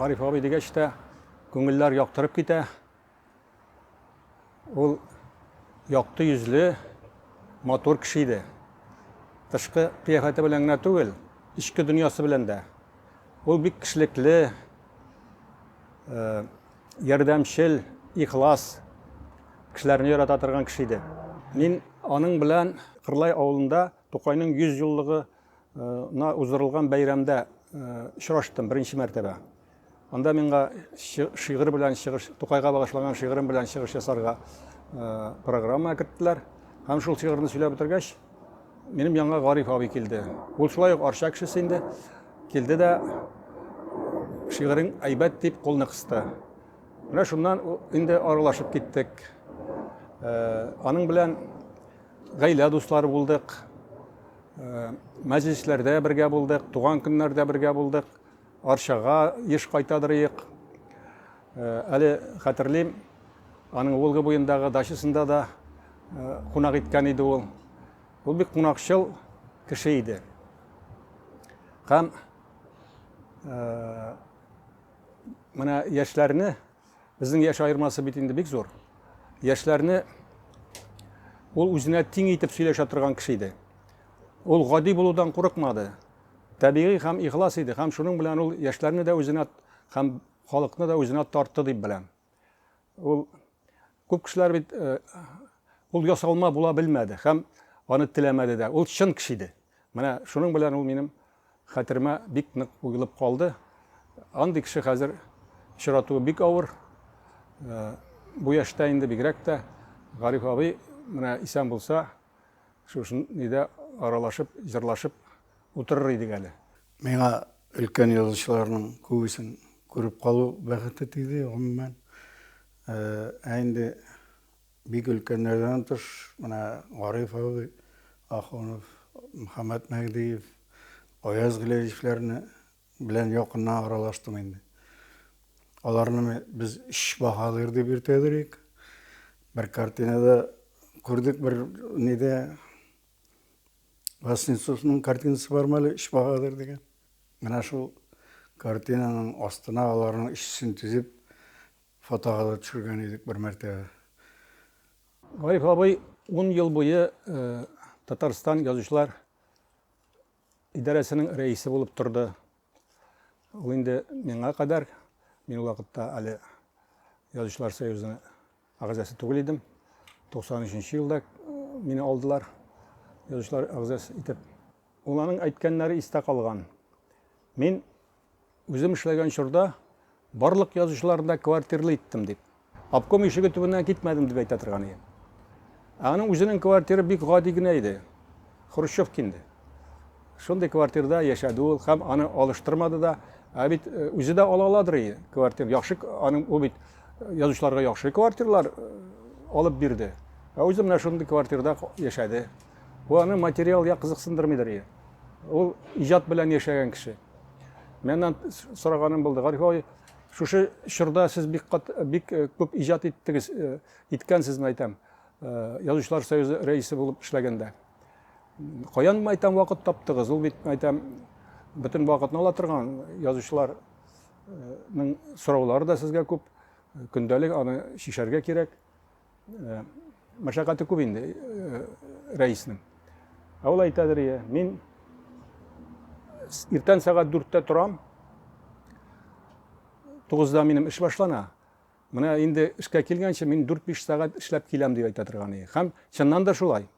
Гариф абый дигәч тә күңелләр яктырып китә. Ул якты йөзле, матур кеше иде. Тышкы кыяфәте белән генә түгел, эчке дөньясы белән дә. Ул бик кешелекле, э, ярдәмчел, ихлас, кешеләрне ярата торган кеше иде. Мин аның белән Кырлай авылында Тукайның 100 еллыгы на уздырылган бәйрәмдә очраштым беренче мәртәбә. Анда миңа шигырь белән чыгыш, Тукайга багышланган шигырем белән чыгыш ясарга программа керттеләр. Һәм шул шигырьне сөйләп бетергәч, минем янга Гариф абый килде. Ул шулай ук Арча кешесе инде. Килде дә шигырен әйбәт дип кулны кысты. Менә шуннан инде аралашып киттек. Аның белән гаилә дуслары булдык. Мәҗлесләрдә бергә булдык, туган көннәрдә бергә булдык. Арчага еш кайтадыр иек. Әле хәтерлим, аның Волга буендагы дачасында да кунак иткән иде ул. Ул бик кунакчыл кеше иде. Һәм менә яшьләрне Безнең яшь аермасы бит инде бик зур. Яшьләрне ул үзенә тиң итеп сөйләшә торган кеше иде. Ул гади булудан курыкмады. Табигый һәм ихлас иде һәм шуның белән ул яшьләрне дә үзенә һәм халыкны да үзенә тартты дип беләм. Ул күп кешеләр бит э, ул ясалма була белмәде һәм аны теләмәде дә. Ул чын кеше иде. Менә шуның белән ул минем Хәтеремә бик нык уелып калды. Андый кеше хәзер очратуы бик авыр. Бу яшьтә инде бигрәк тә. Гариф абый менә исән булса, шушы нидә аралашып, җырлашып утырыр идек әле. Миңа өлкән язучыларның күбесен күреп калу бәхете тиде, гомумән. Ә инде Бик өлкәннәрдән тыш, менә Гариф абый Ахунов, Мөхәммәт Мәһдиев, Аяз Гөләевләрне белән якыннан аралаштым инде. Аларны без өч баһадир дип йөртәдерик. Бер картинада күрдек, бер нидә Васнецовның картинасы бар мәле, өч баһадир дигән. Менә шул картинаның астына аларның өчесен тезеп, Фотога да төшергән идек бер мәртә. Гариф абый ун ел буе Татарстан язучылар идарәсенең рәисе булып торды. Ул инде миңа кадәр, мин ул вакытта әле язучылар союзы агзасы түгел идем. 93 елда мине алдылар язучылар агзасы итеп. Ул аның әйткәннәре истә калган. Мин Үзем эшләгән чорда барлык язучыларны да квартирлы иттем, дип. Обком ишеге төбеннән китмәдем, дип әйтә торган иде. Ә аның үзенең квартиры бик гади генә иде. Хрущевка инде. Шундый квартирда яшәде ул һәм аны алыштырмады да. Ә бит э, үзе дә ала аладыр иде квартир. Яхшы аның ул бит э, язучыларга яхшы квартирлар э, алып бирде. Ә үзе менә шундый квартирда яшәде. Бу аны материал я кызыксындырмыйдыр иде. Ул иҗат белән яшәгән кеше. Менән сораганым булды. Гариф абый, шушы чорда сез бик кат, бик э, күп иҗат иттегез, э, иткәнсезме әйтәм. Э, Язучылар союзы рәисе булып эшләгәндә. Каян әйтәм вакыт таптыгыз? Ул бит әйтәм бөтен вакытны ала торган язучыларның сораулары да сезгә күп. Көндәлек аны шишәргә кирәк. Э, Машакаты күп инде э, рәиснең. Ә ул әйтәдер, я, мин иртән сәгать дүрттә торам, тугызда минем эш башлана. Менә инде эшкә килгәнче мин дүрт-биш сәгать эшләп киләм, дип әйтә торган иде. Һәм чыннан да шулай.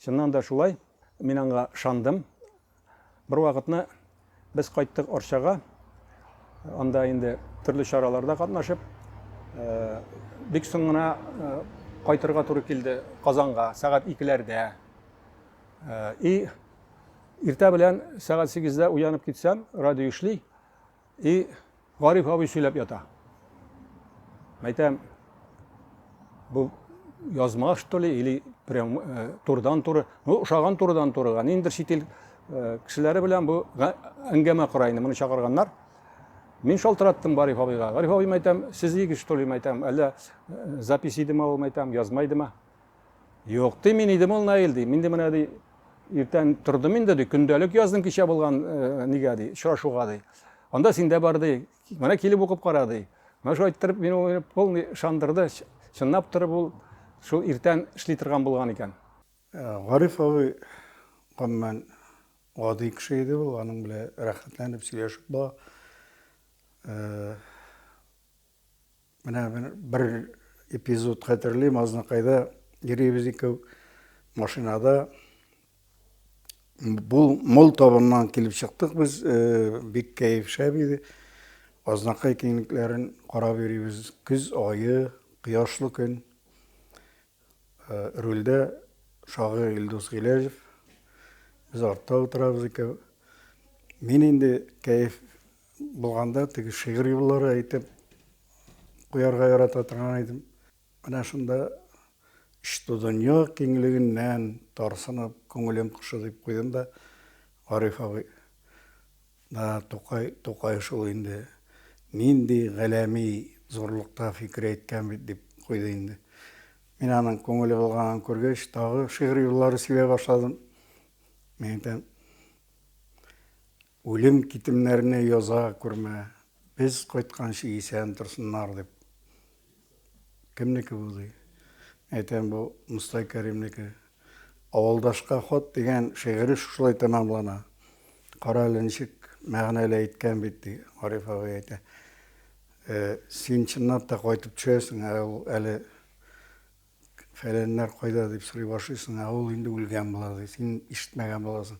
Чыннан да шулай, мин аңа ышандым. Бервакытны без кайттык Арчага, анда инде төрле чараларда катнашып, бик соң гына кайтырга туры килде Казанга, сәгать икеләрдә. И иртә белән сәгать сигездә уянып китсәм, радио эшли. И Гариф абый сөйләп ята. Мәйтәм, бу язма что ли, или прям э, турдан туры. Ну, ошаган турдан турыга. Ниндер чит ил э, кешеләре белән бу әңгәмә кора инде, моны чакырганнар. Мин шалтыраттым Гариф абыйга. Гариф абый мәйтәм, сез егет что ли мәйтәм, әллә э, запись идеме ул мәйтәм, язма идеме? Юк, ди, мин идем ул Наил, ди. Мин ди менә ди иртән тордым инде, ди, көндәлек яздым кичә булган э, нигә ди, очрашуга ди. Анда синдә бар ди. Менә килеп укып кара ди. Менә шулай иттереп мин ул полный шандырды. Чынлап торып ул шул иртән эшли торган булган икән. Э, Гариф абый гомумән гади кеше иде ул, аның белән рәхәтләнеп сөйләшеп була. Э, Менә бер эпизод хәтерлим, Азнакайда йөрибез икәү машинада Бул мол табыннан килеп чыктык без, э, бик кәеф шәп иде. Азнакай киңлекләрен карап йөрибез. Көз айы, кояшлы көн. Э, рульдә шагыйрь Илдус Гиләҗев. Без артта утырабыз икәү. Мин инде кәеф Булганда теге шигырь юллары әйтеп куярга ярата торган идем. Менә шунда Иште дөнья киңлегеннән тарсынып күңелем кошы дип куйдым да Гариф абый да Тукай Тукай шул инде нинди галәми зурлыкта фикер әйткән бит дип куйды инде. Мин аның күңеле булганын күргәч, тагы шигырь юллары сөйләй башладым. Мин әйтәм, Үлем китемнәрне яза күрмә, без кайтканчы исән торсыннар дип. Кемнеке бу ди? Әйтәм, бу Мостай Кәримнеке. Авылдашка хат дигән шигыре шушылай тәмамлана. Кара әле ничек мәгънәле әйткән бит, ди Гариф абый әйтә. Син чынлап та кайтып төшәсең, ә ул әле Фәләннәр кайда дип сорый башлыйсың, ә ул инде үлгән була, ди. Син ишетмәгән буласың.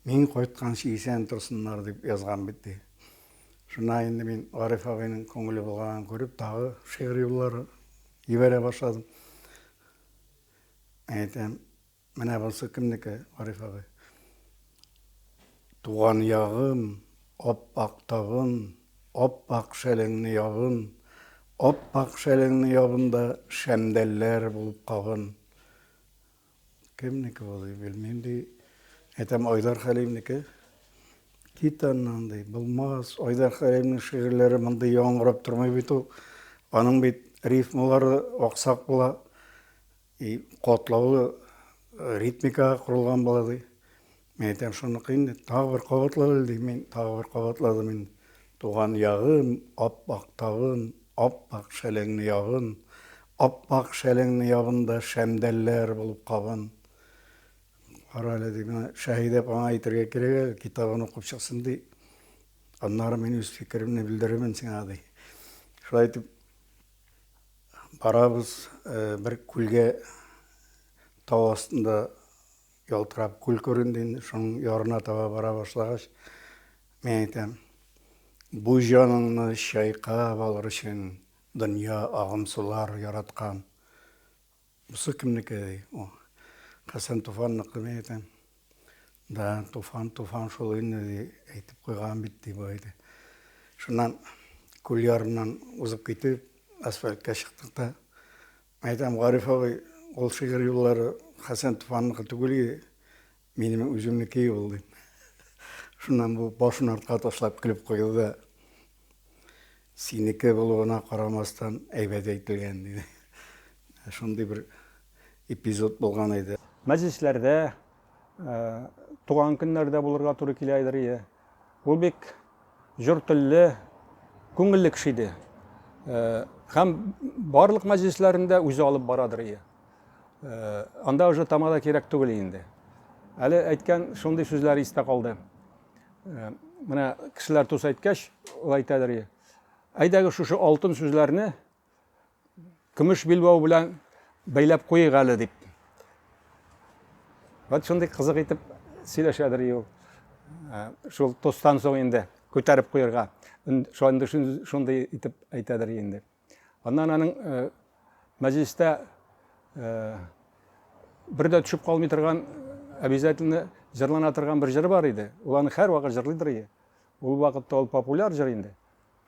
Мин кайтканчы исән торсыннар, дип язган бит, ди. Шуннан инде мин Гариф абыйның күңеле булганын күреп, тагы шигырь юллары җибәрә башладым. Әйтәм, Менә бунсы кемнеке, Гариф абый? Туган ягым, ап-ак тавым, Ап-ак шәлеңне ябын, Ап-ак шәлеңне ябын да Шәмдәлләр булып кабын. Кемнеке бу, ди, белмим, ди. Әйтәм, Айдар Хәлимнеке. Кит аннан, ди, булмас. Айдар Хәлимнең шигырьләре мондый яңгырап тормый бит ул. Аның бит рифмалары аксак була. И катлаулы ритмикага корылган була, ди. Мин әйтәм, шуныкы инде, тагы бер кабатлап әле, дим. Мин тагы бер кабатладым инде. Туган ягым, ап-ак тавым, ап-ак шәлеңне ябын, ап-ак шәлеңне ябын да шәмдәлләр булып кабын. Кара әле, ди, менә Шәһидә апаңа әйтергә кирәк әле, китабын укып чыксын, ди. Аннары мин үз фикеремне белдерермен сиңа, ди. Шулай итеп, Барабыз, бер күлгә тау астында ялтырап күл күренде инде, шуның ярына таба бара башлагач, мин әйтәм, бу җаныңны чайкап алыр өчен дөнья агымсулар яраткан, Бусы кемнеке ди ул? Хәсән Туфанныкы ди әйтәм. Да, Туфан, Туфан шул инде ди, әйтеп куйган бит ди бу әйтә. Шуннан күл ярыннан узып китеп, асфальтка чыктык та. Әйтәм, Гариф абый, ул шигырь юллары Хәсән Туфанныкы түгел ди. Минем үземнеке ул, дим. Шуннан бу башын артка ташлап көлеп куйды да, Синеке булуына карамастан, әйбәт әйтелгән, диде. Шундый бер эпизод булган иде. Мәҗлесләрдә, туган көннәрдә булырга туры килә идер, Ул бик җор телле, күңелле кеше иде. Һәм барлык мәҗлесләрендә үзе алып барадыр ие. Анда уже тамада кирәк түгел инде. Әле әйткән шундый сүзләре истә калды. Менә кешеләр тус әйткәч, ул әйтәдер ие. Әйдәгез шушы алтын сүзләрне көмеш билбау белән бәйләп куйыйк әле дип вот шундый кызык итеп сөйләшәдер ул ә, шул тостан соң инде күтәреп куярга шундый шундый итеп әйтәдер инде аннан аның ә, мәҗлестә ә, бер дә төшеп калмый торган обязательно җырлана торган бер җыры бар иде ул аны һәрвакыт җырлыйдыр ул вакытта ул популяр җыр инде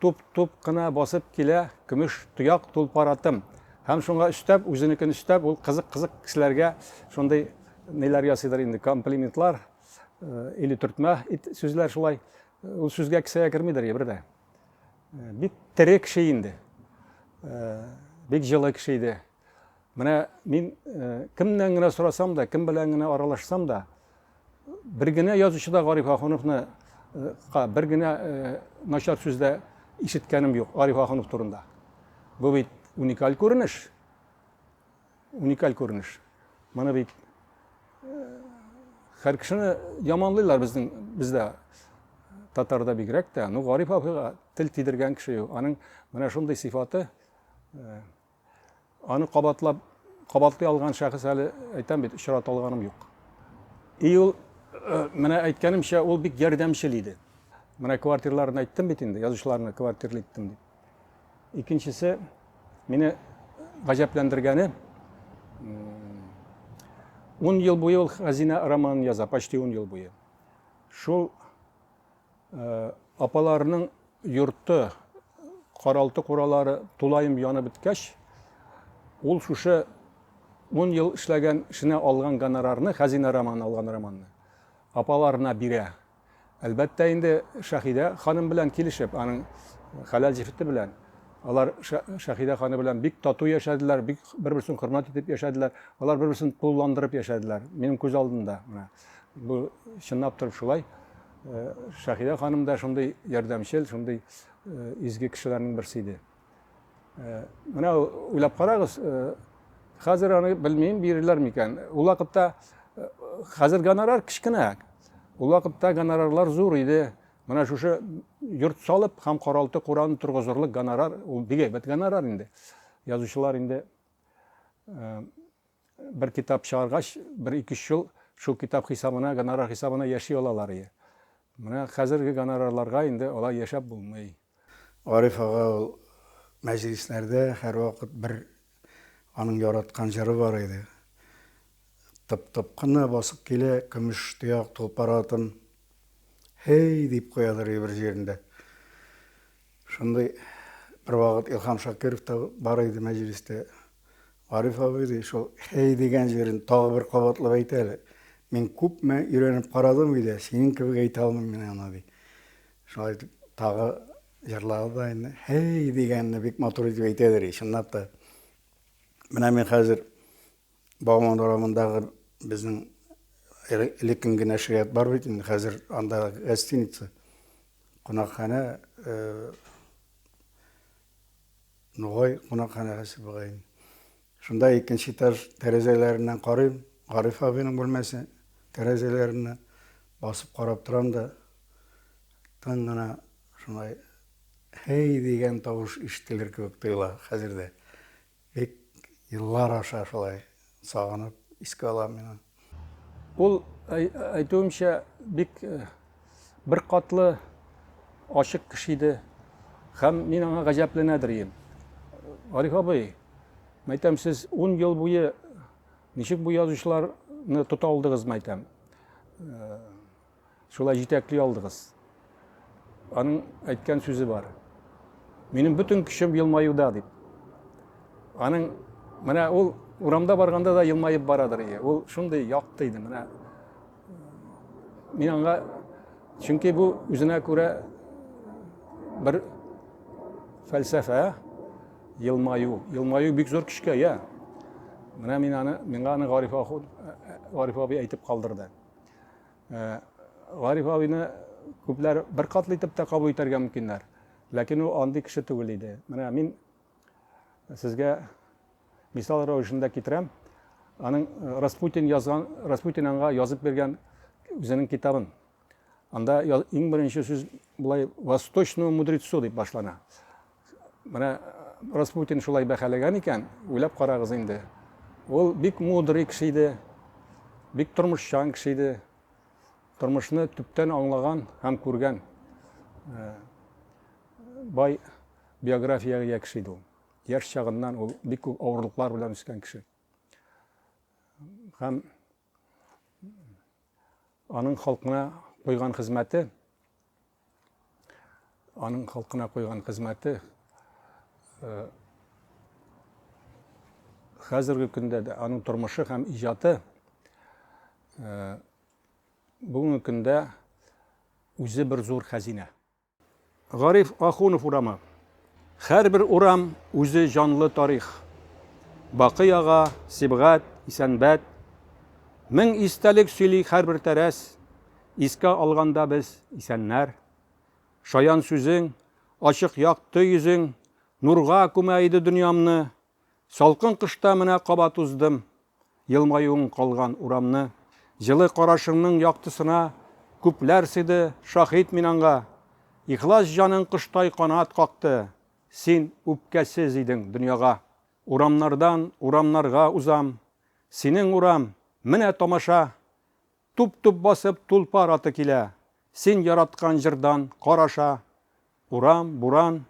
Туп-туп кына басып килә көмеш тояк тулпаратым. Һәм шуңа өстәп, үзенекен өстәп, ул кызык-кызык кешеләргә шундый ниләр ясыйдыр инде, комплиментлар, или төртмә сүзләр шулай. Ул сүзгә кесәгә кермидер ебер дә. Бик тере кеше инде. Бик җылы кеше иде. Менә мин кемнән генә сорасам да, кем белән генә аралашсам да, бер генә язучы да Гариф Ахуновны бер генә начар сүз дә ишеткәнем юк Гариф Ахунов турында. Бу бит уникаль күренеш. Уникаль күренеш. Моны бит һәр кешене яманлыйлар безнең бездә татарда бигрәк тә. Ну Гариф абыйга тел тидергән кеше юк. Аның менә шундый сыйфаты Аны кабатлап кабатлый алган шәхес әле әйтәм бит, очрата алганым юк. И ул э, менә әйткәнемчә, ул бик ярдәмчел иде. Менә квартирларын әйттем бит инде, язучыларны квартирлы иттем дип. Икенчесе мине гаҗәпләндергәне 10 ел буе ул хәзинә романын яза, почти 10 ел буе. Шул Апаларының йорты, каралты-куралары тулаем янып беткәч, ул шушы ун ел эшләгән эшенә алган гонорарны, Хәзинә романы алган романны, апаларына бирә. Әлбәттә инде, Шәһидә ханым белән килешеп, аның хәләл җефете белән. Алар Шәһидә ханым белән бик тату яшәделәр, бик бер-берсен хөрмәт итеп яшәделәр. Алар бер-берсен тулыландырып яшәделәр, минем күз алдында менә. Бу чынлап торып шулай. Э, Шахида ханым да шундый ярдәмчел, шундый э, изге кешеләрнең берсе иде. Э, менә уйлап карагыз, хәзер аны белмим бирерләр микән. Ул вакытта хәзер гонорар кечкенә. Ул вакытта гонорарлар зур иде. Менә шушы йорт салып һәм каралты кураны торгызырлык гонорар, ул бик әйбәт гонорар инде. Язучылар инде Бер китап чыгаргач, бер ике-өч ел шул китап хисабына, гонорар хисабына яши алалар иде. Менә хәзерге гонорарларга инде алай яшәп булмый. Гариф ага ул мәҗлесләрдә һәрвакыт бер аның яраткан җыры бар иде. Тып-тып кына басып килә көмеш тояк тулпар атым, һей! дип куядыр иде бер җирендә. Шундый бервакыт Илһам Шакиров та бар иде мәҗлестә. Гариф абый, ди, шул хәй дигән җырын тагы бер кабатлап әйт әле. Мин күпме өйрәнеп карадым өйдә, синең кебек әйтә алмыйм мин аны, ди. Шулай итеп, тагы җырлады да инде. Хәй дигәнне бик матур итеп әйтә, ди, чынлап та. Менә мин хәзер Бауман урамындагы безнең элеккең генә ширят бар бит инде, хәзер анда гостиница, кунакханә, э, Нугай кунакханәсе бугай. Шунда икенче этаж тәрәзәләреннән карыйм, Гариф абыйның бүлмәсе тәрәзәләреннән басып карап торам да, тын гына шулай һей дигән тавыш ишетелер кебек тоела хәзер дә. Бик еллар аша шулай сагынып искә алам мин аны. Ул, әйтүемчә, бик беркатлы, ачык кеше иде. Һәм мин аңа гаҗәпләнә дөрим. Гариф абый, мәйтәм, сез ун ел буе ничек бу язучыларны тота алдыгыз мәйтәм? шулай җитәкли алдыгыз. Аның әйткән сүзе бар. Минем бөтен көчем елмаюда дип. Аның менә ул урамда барганда да елмаеп барадыр ие. Ул шундый якты иде менә. Мин аңа чөнки бу үзенә күрә бер фәлсәфә елмаю. Елмаю бик зур көчкә ия. Менә мин аны миңа аны Гариф ахун Гариф абый әйтеп калдырды. Гариф абыйны күпләр бер катлы итеп тә кабул итәргә мөмкиннәр. Ләкин ул андый кеше түгел иде. Менә мин сезгә мисал рәвешендә китерәм. Аның э, Распутин язган, Распутин аңа язып биргән үзенең китабын. Анда иң беренче сүз булай «Восточному мудрецу» дип башлана. Менә Распутин шулай бәхәләгән икән, уйлап карагыз инде. Ул бик мудрый кеше иде, бик тормышчан кеше иде. Тормышны төптән аңлаган һәм күргән э, бай биографиягә ия кеше иде ул. Яшь чагыннан ул бик күп авырлыклар белән үскән кеше. Һәм Аның халкына куйган хезмәте, аның халкына куйган хезмәте э, хәзерге көндә дә аның тормышы һәм иҗаты э, бүгенге көндә үзе бер зур хәзинә. Гариф Ахунов урамы. Хәрбер урам үзе җанлы тарих. Бакый ага, Сибгать, Исәнбәт. Мең истәлек сөйли хәрбер тәрәз. Искә алганда без, исәннәр. Шаян сүзең, ачык якты йөзең Нурга күмә иде дөньямны, Салкын кышта менә кабат уздым, Елмаюың калган урамны. Җылы карашыңның яктысына Күпләр сыйды, шаһит мин аңга. Ихлас җаның коштай канат какты, Син үпкәсез идең дөньяга. Урамнардан урамнарга узам, Синең урам, менә тамаша! Туп-туп басып тулпар аты килә. Син яраткан җырдан кар аша. Урам, буран,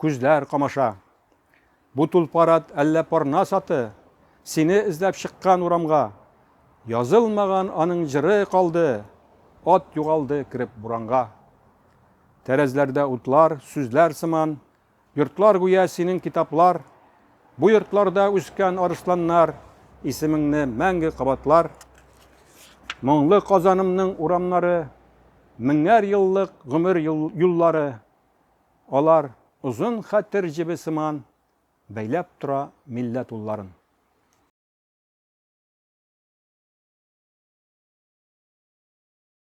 күзләр камаша. Бу тулпар ат әллә парнас аты? Сине эзләп чыккан урамга. Язылмаган аның җыры калды. Ат югалды кереп буранга. Тәрәзләрдә утлар, сүзләр сыман. Йортлар гүя синең китаплар, Бу йортларда үскән арысланнар Исемеңне мәңге кабатлар. Моңлы Казанымның урамнары, Меңәр еллык гомер юллары, Алар озын хәтер җебе сыман Бәйләп тора милләт улларын.